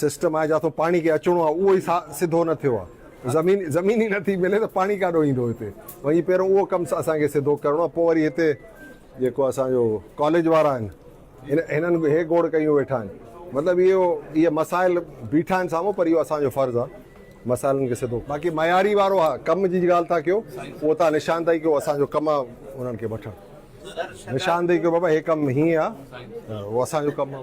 System آهي جا ٿو پاڻي کي اچڻو آهي اهو ئي سا سڌو نه ٿيو آهي زمين زمين ئي نٿي ملي ته پاڻي ڪاڏو ايندو هتي وڃي پهريون اهو ڪم اسان کي سڌو ڪرڻو آهي پوء وري هتي جيڪو اسان جو ڪاليج وارا آهن هن هنن به هي گوڙ ڪيون ويٺا آهن مطلب اهو اهي مسائل بيٺا آهن سامهون پر اهو اسان جو فرض آهي مسائلن کي سڌو باقي معياري وارو ها ڪم جي ڳالهه ٿا ڪيو اهو تان نشاندهي ڪيو اسان جو ڪم آهي انهن کي وٺڻ. نشاندهي ڪيو بابا هي ڪم هيئن آ اهو اسان جو ڪم آ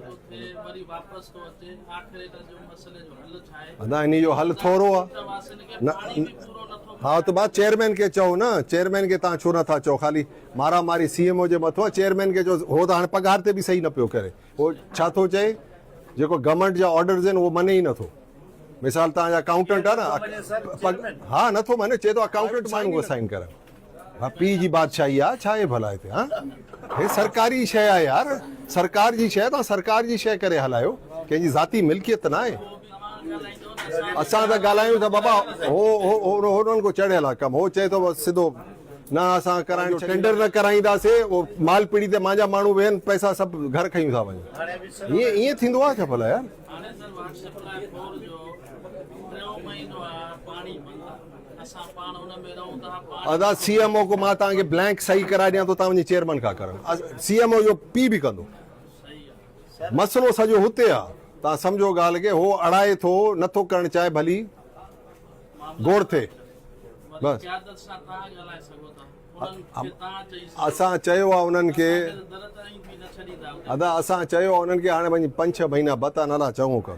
نه انهي جو حل ٿورو آ نه ها ته بعد چيئرمين کي چئو نه چيئرمين کي توهان ڇو نه ٿا چئو خالي مارا ماري سي ايم او جي مٿو آ چيئرمين کي چئو هو ته هاڻي پگهار تي به صحيح نه پيو ڪري هو ڇا ٿو چئي جيڪو گورنمينٽ جا آرڊرز آهن اهو مڃي ئي نه ٿو مثال توهان جا اڪائونٽنٽ آ نه ها نه ٿو مڃي چئي ٿو اڪائونٽنٽ ماڻهو سائين ڪرن ها پيء جي بادشاهي آ ڇا اهي ڀلا هتي ها هي سرڪاري شيء آ يار سرڪار جي شيء توهان سرڪار جي شيء ڪري هلايو ڪنهن جي ذاتي ملڪيت ته ناهي اسان ته ڳالهايون ٿا بابا هو هو هو کو چڙهيل آ ڪم هو چئي ٿو بس سڌو نه اسان ڪرائڻ ٽينڊر نه ڪرائينداسي او مال پيڙي تي مانجا ماڻهو ويهن پئسا سڀ گهر کيون ٿا وڃن ائين ائين ٿيندو آ ڇا ڀلا يار ادا سي ايم او کان مان توهان کي بلينڪ صحيح ڪرائي ڏيان ٿو توهان وڃي چيئرمين کان ڪر سي ايم او اهو پي به ڪندو مسئلو سڄو هتي آ توهان سمجهو ڳالهه کي هو اڙائي ٿو نٿو ڪرڻ چاهي ڀلي گوڙ ٿئي بس اسان چيو آ انهن کي ادا اسان چيو آ انهن کي هاڻي وڃي پنج ڇهه مهينا بتا نالا چڱو ڪر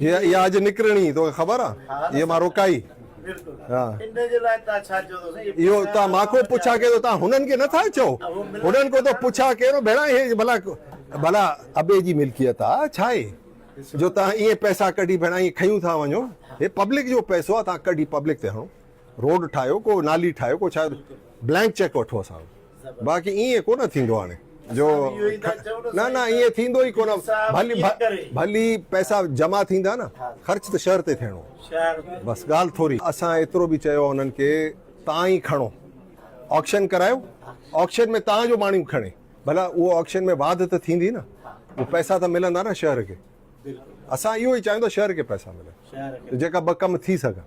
هي اها اڄ نڪرڻي توکي خبر آ هي مان روڪائي ها اهو تان مان ڪو پڇا ڪي ٿو تان هنن کي نٿا چئو هنن ڪو ٿو پڇا ڪيرو ڀيڻا هي ڀلا ڀلا ابي جي ملڪيت آ ڇا هي جو تان ايئن پئسا ڪڍي ڀيڻا ايئن کيون ٿا وڃو هي پبلڪ جو پئسو آ تان ڪڍي پبلڪ تي هڻو روڊ ٺاهيو ڪو نالي ٺاهيو ڪو ڇا بلينڪ چيڪ وٺو اسان باقي ائين ڪونه ٿيندو هاڻي جو نه نه ائين ٿيندو ئي ڪونه ڀلي ڀلي پئسا جمع ٿيندا نه خرچ ته شهر تي ٿيڻو بس ڳالهه ٿوري اسان ايترو به چيو آهي انهن کي تان ئي کڻو آڪشن ڪرايو آڪشن ۾ تان جو ماڻهو کڻي ڀلا اهو آڪشن ۾ واڌ ته ٿيندي نه اهو پئسا ته ملندا نه شهر کي اسان اهو ئي چاهيون ٿا شهر کي پئسا ملن جيڪا ٻه ڪم ٿي سگهن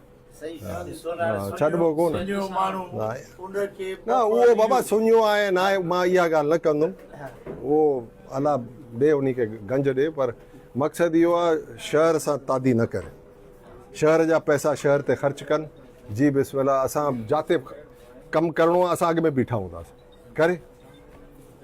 ڇڏبو ڪو نه نه اهو بابا سڃو آهي ناهي مان اها ڳالهه نه ڪندم اهو الله ڏي انهي کي گنج ڏي پر مقصد اهو آهي شهر سان تادي نه ڪري شهر جا پئسا شهر تي خرچ ڪن جي بسم الله اسان جاتي ڪم ڪرڻو آهي اسان اڳ ۾ بيٺا هونداسين ڪري